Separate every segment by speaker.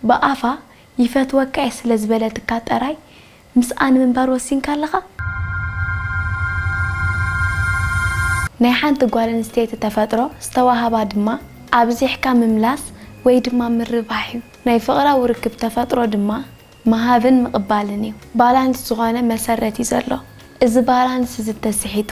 Speaker 1: ብኣፋ ይፈትወካ'የ ስለ ዝበለትካ ጠራይ ምስኣ ንምንባር ወሲንካ ኣለኻ? ናይ ሓንቲ ጓል ኣንስተይቲ ተፈጥሮ ዝተዋህባ ድማ ኣብዚሕካ ምምላስ ወይ ድማ ምርባሕ'ዩ። ናይ ፍቕራዊ ርክብ ተፈጥሮ ድማ ምሃብን ምቕባልን'ዩ። ባላንስ ዝኾነ መሰረት'ዩ ዘሎ። እዚ ባላንስ'ዚ እንተስሒቱ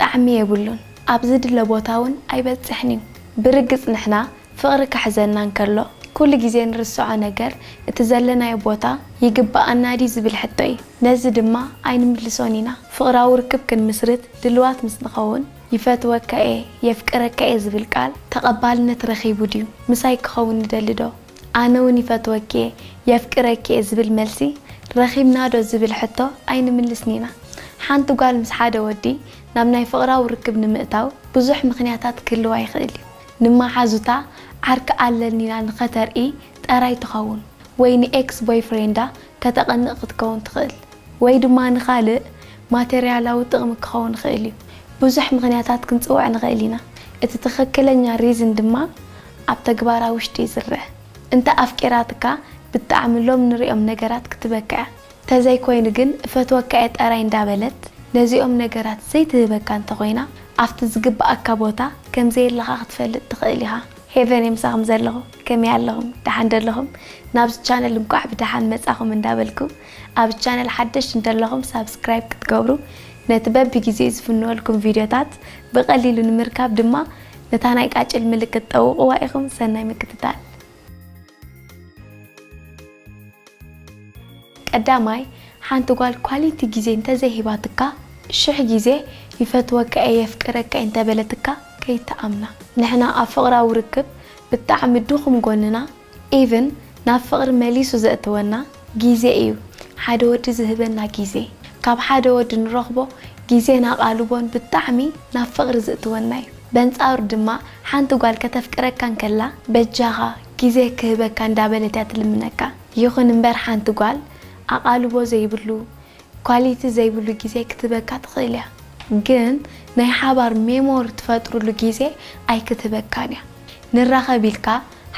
Speaker 1: ጣዕሚ የብሉን፣ ኣብ ዝድለ ቦታ'ውን ኣይበጽሕን'ዩ። ብርግጽ ንሕና ፍቕሪ ክሕዘና እንከሎ ኩሉ ግዜ እንርስዖ ነገር እቲ ዘለናዮ ቦታ ይግበኣና ድዩ ዝብል ሕቶ እዩ። ነዚ ድማ ኣይንምልሶን ኢና። ፍቕራዊ ርክብ ክንምስርት ድሉዋት ምስ ንኸውን ይፈትወካ'የ፣ የፍቅረካ'የ ዝብል ቃል ተቐባልነት ረኺቡ ድዩ? ምሳይ ክኸውን ይደሊ'ዶ? ኣነ'ውን ይፈትወኪ'የ፣ የፍቅረኪ'የ ዝብል መልሲ ረኺብና'ዶ ዝብል ሕቶ ኣይንምልስን ኢና። ሓንቲ ጓል ምስ ሓደ ወዲ ናብ ናይ ፍቕራዊ ርክብ ንምእታው ብዙሕ ምኽንያታት ክህልዋ ይኽእል'ዩ። ንመሓዙታ ዓርኪ ኣለኒ ኢላ ንኸተርኢ ጠራይ ትኸውን ወይ ንኤክስ ቦይፍሬንዳ ከተቐንእ ክትከውን ትኽእል ወይ ድማ ንኻልእ ማተርያላዊ ጥቕሚ ክኸውን ይኽእል እዩ ብዙሕ ምኽንያታት ክንጽውዕ ንኽእል ኢና እቲ ትኽክለኛ ሪዝን ድማ ኣብ ተግባራ ውሽጢ ይዝርእ እንተ ኣፍቂራትካ ብጣዕሚ ሎም ንሪኦም ነገራት ክትበክዕ ተዘይኮይኑ ግን እፈትወካ'የ ጠራይ እንዳበለት ነዚኦም ነገራት ዘይትህበካ እንተኾይና ኣብቲ ዝግብኣካ ቦታ ከምዘየለኻ ክትፈልጥ ትኽእል ኢኻ። ሄቨን እየ ምሳኹም ዘለኹ ከመይ ኣለኹም ደሓን ዶ ኣለኹም ናብዚ ቻነል እንኳዕ ብደሓን መጻኹም እንዳበልኩ ኣብ ቻነል ሓደሽቲ እንተለኹም ሳብስክራይብ ክትገብሩ ነቲ በብጊዜኡ ዝፍንወልኩም ቪድዮታት ብቀሊሉ ንምርካብ ድማ ነታ ናይ ቃጭል ምልክት ጠውቕዋ ኢኹም ሰናይ ምክትታል። ቀዳማይ ሓንቲ ጓል ኳሊቲ ግዜ እንተዘይሂባትካ ሽሕ ግዜ ይፈትወካ እየ የፍቅረካ እየ እንተበለትካ ከይትኣምና ንሕና ኣብ ፍቅራዊ ርክብ ብጣዕሚ ድኩም ጎንና ኢቭን ናብ ፍቅሪ መሊሱ ዘእትወና ግዜ እዩ ሓደ ወዲ ዝህበና ግዜ ካብ ሓደ ወዲ ንረኽቦ ግዜን ኣቓልቦን ብጣዕሚ ናብ ፍቕሪ ዝእትወና እዩ በንጻሩ ድማ ሓንቲ ጓል ከተፍቅረካ እንከላ በጃኻ ግዜ ክህበካ እንዳበለት እያ ትልምነካ ይኹን እምበር ሓንቲ ጓል ኣቓልቦ ዘይብሉ ኳሊቲ ዘይብሉ ግዜ ክትህበካ ትኽእል እያ ግን ናይ ሓባር ሜሞሪ ትፈጥርሉ ግዜ ኣይክትህበካን እያ ንራኸብ ኢልካ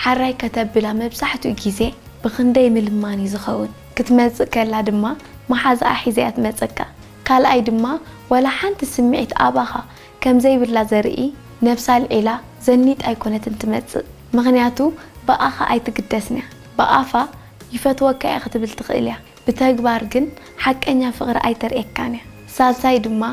Speaker 1: ሓራይ ከተብላ መብዛሕትኡ ግዜ ብኽንደይ ምልማን እዩ ዝኸውን፣ ክትመጽእ ከላ ድማ መሓዝኣ ሒዛ እያ ትመጸካ፣ ካልኣይ ድማ ዋላ ሓንቲ ስምዒት ኣባኻ ከም ዘይብላ ዘርኢ ነብሳ ኣልዒላ ዘኒጣ ኣይኮነትን ትመጽእ፣ ምኽንያቱ ብኣኻ ኣይትግደስን'ያ፣ ብኣፋ ይፈትወካ'የ ክትብል ትኽእል'ያ። ብተግባር ግን ሓቀኛ ፍቅሪ ኣይተርእየካን እያ ሳልሳይ ድማ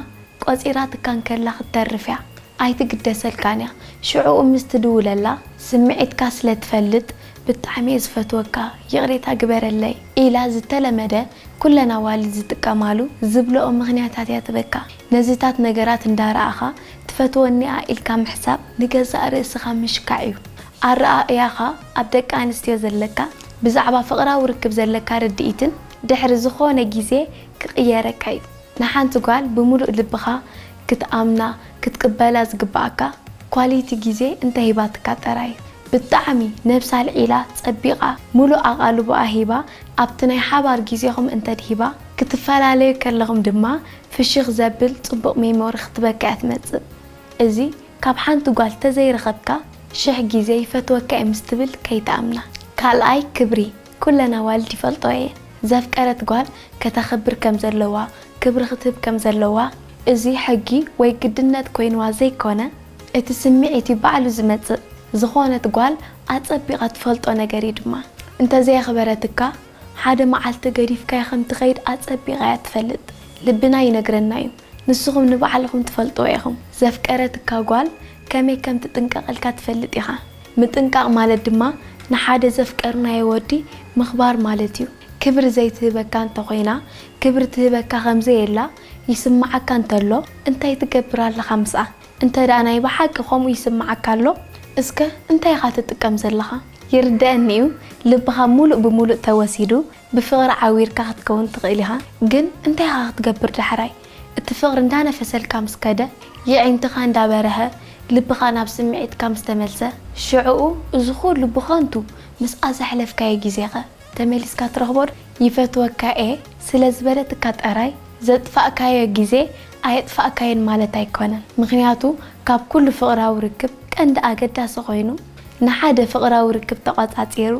Speaker 1: ቆጺራትካ እንከላ ክትተርፍ እያ ኣይትግደሰልካን እያ ሽዑኡ ምስ ትድውለላ ስምዒትካ ስለ ትፈልጥ ብጣዕሚ እየ ዝፈትወካ ይቅሬታ ግበረለይ ኢላ ዝተለመደ ኩለን ኣዋልድ ዝጥቀማሉ ዝብለኦ ምክንያታት እያ ትበካ ነዚታት ነገራት እንዳረኣኻ ትፈትወኒ እያ ኢልካ ምሕሳብ ንገዛእ ርእስኻ ምሽካዕ እዩ ኣረኣእያኻ ኣብ ደቂ ኣንስትዮ ዘለካ ብዛዕባ ፍቕራዊ ርክብ ዘለካ ርድኢትን ድሕሪ ዝኾነ ግዜ ክቕየረካ እዩ። ንሓንቲ ጓል ብምሉእ ልብኻ ክትኣምና ክትቅበላ ዝግበኣካ ኳሊቲ ግዜ እንተሂባትካ ጥራይ እዩ። ብጣዕሚ ነብሳ ኣልዒላ ጸቢቓ ምሉእ ኣቓልቦኣ ሂባ ኣብቲ ናይ ሓባር ግዜኹም እንተድሂባ ክትፈላለዩ ከለኹም ድማ ፍሽኽ ዘብል ጽቡቕ ሜሞሪ ክትበካ እያ ትመጽእ። እዚ ካብ ሓንቲ ጓል ተዘይረኸብካ ሽሕ ግዜ ይፈትወካ'የ ምስ ትብል ከይትኣምና። ካልኣይ ክብሪ ኩለን ኣዋልድ ይፈልጠኦ እየ ዘፍቀረት ጓል ከተኽብር ከም ዘለዋ ክብሪ ክትህብ ከም ዘለዋ እዚ ሕጊ ወይ ግድነት ኮይንዋ ዘይኮነ እቲ ስምዒት እዩ ባዕሉ ዝመጽእ ዝኾነት ጓል ኣጸቢቓ ትፈልጦ ነገር እዩ ድማ እንተዘየኽበረትካ ሓደ መዓልቲ ገዲፍካያ ከም ትኸይድ ኣጸቢቓ እያ ትፈልጥ ልብና ይነግረና እዩ ንስኹም ንባዕልኹም ትፈልጥዎ ኢኹም። ዘፍቀረትካ ጓል ከመይ ከም ትጥንቀቐልካ ትፈልጥ ኢኻ። ምጥንቃቕ ማለት ድማ ንሓደ ዘፍቀርናዮ ወዲ ምኽባር ማለት እዩ። ክብሪ ዘይትህበካ እንተ ኾይና፣ ክብሪ ትህበካ ከም ዘየላ ይስምዓካ እንተሎ፣ እንታይ ትገብር ኣለኻ ምስኣ? እንተ ደኣ ናይ ብሓቂ ከምኡ ይስምዓካ ኣሎ፣ እስከ እንታይ ኢኻ ትጥቀም ዘለኻ? ይርደኣኒ እዩ፣ ልብኻ ምሉእ ብምሉእ ተወሲዱ፣ ብፍቕሪ ዓዊርካ ክትከውን ትኽእል ኢኻ ግን እንታይ ኢኻ ክትገብር ዳሕራይ እቲ ፍቕሪ እንዳነፈሰልካ ምስ ከደ የዒንትኻ እንዳበረሀ ልብኻ ናብ ስምዒትካ ምስ ተመልሰ ሽዕኡ እዚ ኩሉ ብኸንቱ ምስኣ ዘሕለፍካዮ ግዜኸ ተመሊስካ ትረኽቦ ዶ ይፈትወካ እየ ስለ ዝበለትካ ጠራይ ዘጥፋእካዮ ግዜ ኣየጥፋእካዮን ማለት ኣይኮነን ምኽንያቱ ካብ ኩሉ ፍቕራዊ ርክብ ቀንዲ ኣገዳሲ ኮይኑ ንሓደ ፍቕራዊ ርክብ ተቖጻጺሩ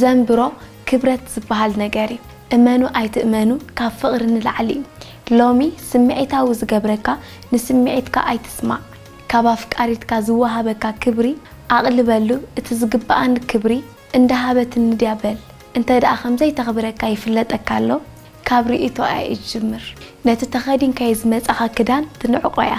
Speaker 1: ዘንብሮ ክብረት ዝብሃል ነገር እዩ እመኑ ኣይትእመኑ ካብ ፍቅሪ ንላዕሊ እዩ ሎሚ ስምዒታዊ ዝገብረካ ንስምዒትካ ኣይትስማዕ ካብ ኣፍቃሪትካ ዝወሃበካ ክብሪ ኣቅልበሉ እቲ ዝግብኣኒ ክብሪ እንዳሃበትኒ ድያ በል እንተድኣ ከምዘይተክብረካ ይፍለጠካ ኣሎ ካብ ርእይቶኣ እየ ዝጅምር። ነቲ ተኸዲንካዮ ዝመጻኻ ክዳን ትንዕቆ'ያ።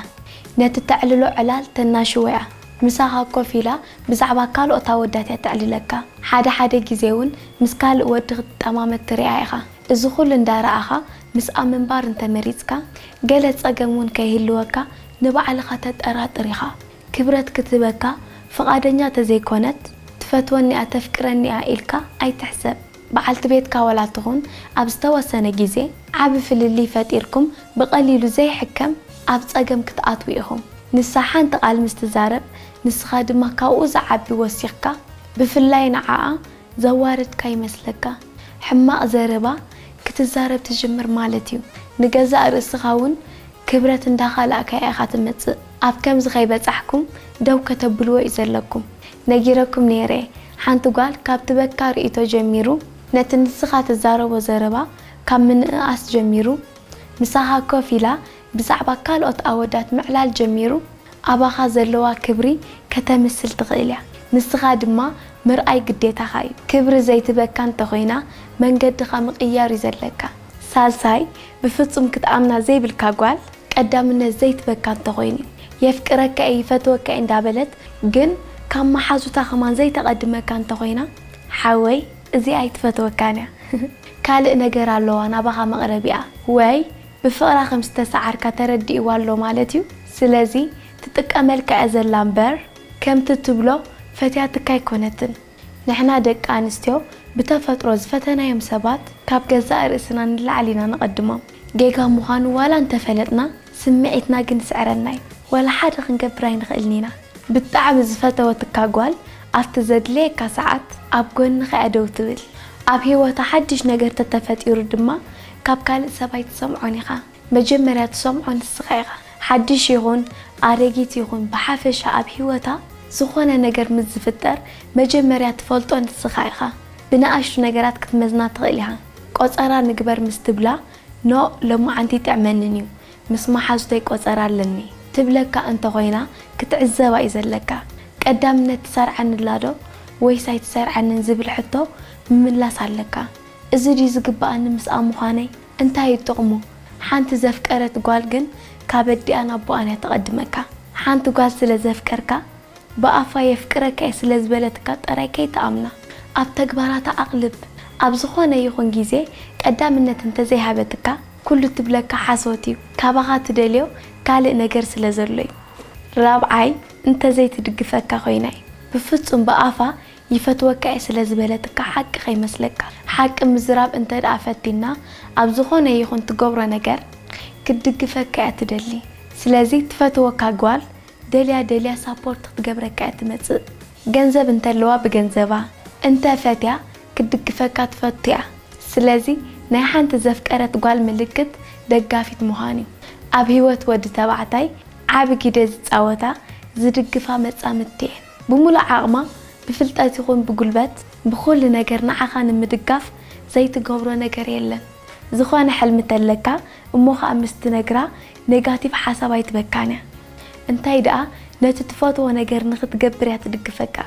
Speaker 1: ነቲ እተዕልሎ ዕላል ተናሽዎ'ያ። ምሳኻ ኮፍ ኢላ ብዛዕባ ካልኦት ኣወዳት'ያ እተዕልለካ። ሓደ ሓደ ግዜ'ውን ምስ ካልእ ወዲ ክትጠማመት ትርኣ ኢኻ። እዚ ኹሉ እንዳረኣኻ ምስኣ ምንባር እንተመሪጽካ፣ ገለ ጸገም'ውን ከይህልወካ ንባዕልኻ ተጠራጥር ኢኻ። ክብረት ክትህበካ ፍቓደኛ ተዘይኮነት፣ ትፈትወኒ'ያ ተፍቅረኒ'ያ ኢልካ ኣይትሕሰብ። በዓልቲ ቤትካ ዋላ ትኹን ኣብ ዝተወሰነ ግዜ ዓቢ ፍልልይ ፈጢርኩም ብቐሊሉ ዘይሕከም ኣብ ጸገም ክትኣትዉ ኢኹም። ንሳ ሓንቲ ቃል ምስ ትዛረብ ንስኻ ድማ ካብኡ ዝዓቢ ወሲኽካ ብፍላይ ንዓኣ ዘዋረድካ ይመስለካ። ሕማቕ ዘረባ ክትዛረብ ትጅምር ማለት'ዩ። ንገዛእ ርእስኻ ውን ክብረት እንዳካላእካያ ኢካ ትመጽእ ኣብ ከምዚ ከይበጻሕኩም ደው ከተብልዎ ዩ ዘለኩም ነጊረኩም ነይረ ሓንቲ ጓል ካብ ትበካ ርእይቶ ጀሚሩ ነቲ ንስካ ትዛረቦ ዘረባ ካብ ምንእኣስ ጀሚሩ ምሳካ ኮፍ ኢላ ብዛዕባ ካልኦት ኣወዳት ምዕላል ጀሚሩ ኣባካ ዘለዋ ክብሪ ከተምስል ትክእል እያ ንስካ ድማ ምርኣይ ግዴታካ ዩ ክብሪ ዘይትበካ እንተኮይና መንገድካ ምቅያር ዩ ዘለካ ሳልሳይ ብፍጹም ክትኣምና ዘይብልካ ጓል ቀዳምነት ዘይትበካ እንተኾይኑ እዩ የፍቅረካ እየ ይፈትወካ እየ እንዳበለት ግን ካብ ማሓዙታ ከማን ዘይተቀድመካ እንተኾይና ሓወይ እዚኣ ኣይትፈትወካን እያ ካልእ ነገር ኣለዋ ናባኻ መቅረቢኣ ወይ ብፍቅራ ከም ዝተሳዓርካ ተረዲእዋ ኣሎ ማለት እዩ ስለዚ ትጥቀመልካ እያ ዘላ እምበር ከምቲ ትብሎ ፈትያትካ ኣይኮነትን ንሕና ደቂ ኣንስትዮ ብተፈጥሮ ዝፈተናዮም ሰባት ካብ ገዛእ ርእስና ንላዕሊ ኢና ነቐድሞም። ጌጋ ምዃኑ ዋላ እንተፈለጥና ስምዒትና ግን ይስዕረና እዩ። ዋላ ሓደ ክንገብር ኣይንኽእልን ኢና። ብጣዕሚ ዝፈተወትካ ጓል ኣብቲ ዘድልየካ ሰዓት ኣብ ጎንኻ እያ ደው ትብል። ኣብ ህይወታ ሓድሽ ነገር ተተፈጢሩ ድማ ካብ ካልእ ሰብ ኣይትሰምዖን ኢኻ። መጀመርያ ትሰምዖ ንስኻ ኢኻ። ሓድሽ ይኹን ኣረጊት ይኹን ብሓፈሻ ኣብ ህይወታ ዝኾነ ነገር ምስ ዝፍጠር መጀመርያ ትፈልጦ ንስኻ ኢኻ። ብንኣሽቱ ነገራት ክትመዝና ትኽእል ኢኻ። ቆጸራ ንግበር ምስ ትብላ ኖእ ሎማዓንቲ ኣይጥዕመንን እዩ ምስ መሓዙተይ ቆጸራ ኣለኒ ትብለካ እንተ ኾይና ክትዕዘባ እዩ ዘለካ። ቀዳምነት ትሰርዓኒ'ላዶ ወይስ ኣይትሰርዓንን ዝብል ሕቶ ምምላስ ኣለካ። እዚ ድዩ ዝግበኣኒ ምስኣ ምዃነይ? እንታይ እዩ ጥቕሙ? ሓንቲ ዘፍቀረት ጓል ግን ካብ ኣዲኣን ኣቦኣን እያ ተቐድመካ። ሓንቲ ጓል ስለ ዘፍቀርካ፣ ብኣፋ የፍቅረካ እየ ስለ ዝበለትካ ጥራይ ከይትኣምና። ኣብ ተግባራታ ኣቕልብ። ኣብ ዝኾነ ይኹን ግዜ ቀዳምነት እንተዘይሃበትካ፣ ኩሉ እትብለካ ሓሶት እዩ። ካባኻ እትደልዮ ካልእ ነገር ስለ ዘሎ እዩ። ራብዓይ፣ እንተዘይትድግፈካ ኮይና እዩ። ብፍጹም ብኣፋ ይፈትወካ እየ ስለ ዝበለትካ ሓቂ ከይመስለካ ሓቂ ምዝራብ እንተድኣ ፈቲና ኣብ ዝኾነ ይኹን ትገብሮ ነገር ክትድግፈካ እያ ትደሊ ስለዚ ትፈትወካ ጓል ደልያ ደልያ ሳፖርት ክትገብረካ እያ ትመጽእ ገንዘብ እንተለዋ ብገንዘባ እንተ ፈትያ ክትድግፈካ ትፈቱ እያ ስለዚ ናይ ሓንቲ ዘፍቀረት ጓል ምልክት ደጋፊት ምዃን እዩ ኣብ ሂወት ወዲ ተባዕታይ ዓቢ ጊደ ዝጻወታ ዝድግፋ መጻምድቲ እየን። ብምሉእ ዓቕማ ብፍልጠት ይኹን ብጉልበት ብኹሉ ነገር ንዓኻ ንምድጋፍ ዘይትገብሮ ነገር የለን። ዝኾነ ሕልሚ ተለካ እሞ ኸኣ ምስ ትነግራ ኔጋቲቭ ሓሳብ ኣይትበካን እያ። እንታይ ደኣ ነቲ ትፈትዎ ነገር ንኽትገብር እያ ትድግፈካ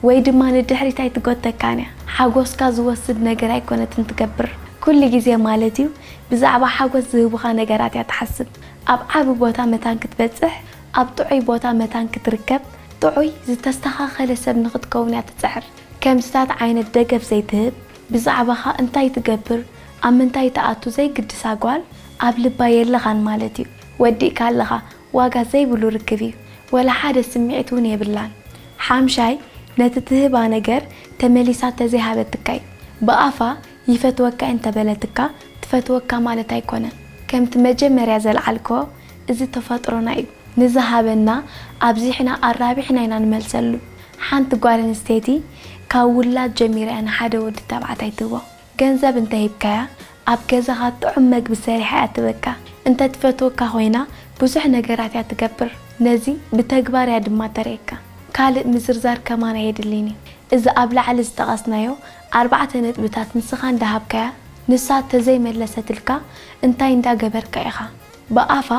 Speaker 1: ወይ ድማ ንድሕሪት ኣይትጎተካን እያ። ሓጎስካ ዝወስድ ነገር ኣይኮነትን ትገብር። ኩሉ ግዜ ማለት እዩ ብዛዕባ ሓጎስ ዝህቡኻ ነገራት እያ ትሓስብ። ኣብ ዓቢ ቦታ መታን ክትበጽሕ፣ ኣብ ጥዑይ ቦታ መታን ክትርከብ፣ ጥዑይ ዝተስተኻኸለ ሰብ ንኽትከውን እያ ትጽዕር። ከምዚታት ዓይነት ደገፍ ዘይትህብ፣ ብዛዕባኻ እንታይ ትገብር፣ ኣብ ምንታይ ትኣቱ ዘይግድሳ ጓል ኣብ ልባ የለኻን ማለት እዩ። ወዲእካ ኣለኻ። ዋጋ ዘይብሉ ርክብ እዩ። ወላ ሓደ ስምዒት እውን የብላን። ሓምሻይ፣ ነቲ ትህባ ነገር ተመሊሳ ተዘይሃበትካ እዩ። ብኣፋ ይፈትወካ እየ እንተበለትካ ትፈትወካ ማለት ኣይኮነን። ከምቲ መጀመርያ ዘልዓልክዎ እዚ ተፈጥሮና እዩ ንዝሃበና ኣብዚሕና ኣራቢሕና ኢና ንመልሰሉ ሓንቲ ጓል ኣንስተይቲ ካብ ውላድ ጀሚራ እያ ንሓደ ወዲ ተባዕታይ ትህቦ ገንዘብ እንተ ሂብካያ ኣብ ገዛኻ ጥዑም መግቢ ሰሪሓ እያ ትህበካ እንተ ትፈትወካ ኮይና ብዙሕ ነገራት እያ ትገብር ነዚ ብተግባር እያ ድማ ተርእየካ ካልእ ምዝርዛር ከማን ኣየድልይን እዩ እዚ ኣብ ላዕሊ ዝጠቐስናዮ ኣርባዕተ ነጥብታት ንስኻ እንዳ ሃብካያ ንሳ ተዘይ መለሰትልካ እንታይ እንዳ ገበርካ ኢኻ ብኣፋ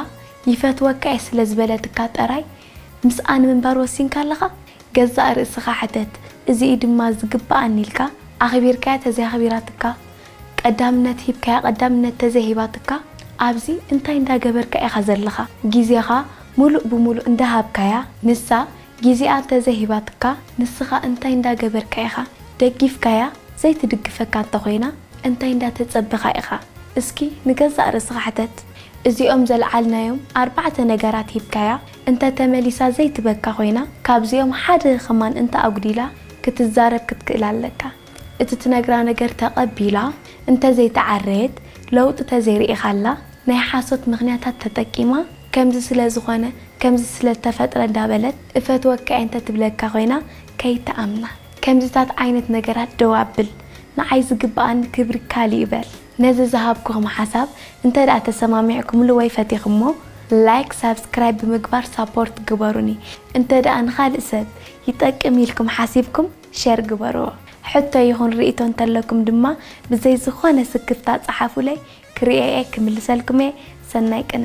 Speaker 1: ይፈትወካ'የ ስለ ዝበለትካ ጥራይ ምስኣ ንምንባር ወሲንካ ኣለኻ? ገዛእ ርእስኻ ሕተት፣ እዚ'ዩ ድማ ዝግብኣኒ ኢልካ ኣኽቢርካያ ተዘይ ኣኽቢራትካ፣ ቀዳምነት ሂብካያ ቀዳምነት ተዘይ ሂባትካ፣ ኣብዚ እንታይ እንዳ ገበርካ ኢኻ ዘለኻ? ግዜኻ ምሉእ ብምሉእ እንዳ ሃብካያ ንሳ ግዜኣ እንተዘይ ሂባትካ፣ ንስኻ እንታይ እንዳ ገበርካ ኢኻ? ደጊፍካያ ዘይትድግፈካ እንተ ኾይና፣ እንታይ እንዳተጸበኻ ኢኻ እስኪ ንገዛእ ርእስኻ ሕተት እዚኦም ዘልዓልናዮም ኣርባዕተ ነገራት ሂብካያ እንተ ተመሊሳ ዘይትበካ ኮይና ካብዚኦም ሓደ ከማን እንተ ኣጉዲላ ክትዛረብ ክትክእል ኣለካ እቲ ትነግራ ነገር ተቀቢላ እንተ ዘይተዓረየት ለውጢ ተዘይርኢኻላ ናይ ሓሶት ምኽንያታት ተጠቂማ ከምዚ ስለ ዝኾነ ከምዚ ስለ ተፈጥረ እንዳበለት እፈትወካ'የ እንተ ትብለካ ኮይና ከይትኣምና ከምዚታት ዓይነት ነገራት ደው ኣብል ንዓይ ዝግብኣኒ ክብሪ ካልእ እዩ በል። ነዚ ዝሃብኩኹም ሓሳብ እንተድኣ ተሰማሚዕኩምሉ ወይ ፈቲኽሞ ላይክ ሳብስክራይብ ብምግባር ሳፖርት ግበሩኒ እንተድኣ ንኻልእ ሰብ ይጠቅም ኢልኩም ሓሲብኩም ሸር ግበርዎ ሕቶ ይኹን ርኢቶ እንተለኩም ድማ ብዘይ ዝኾነ ስክፍታ ጸሓፉለይ ክርእዮ'የ ክምልሰልኩም'የ ሰናይ ቅነ።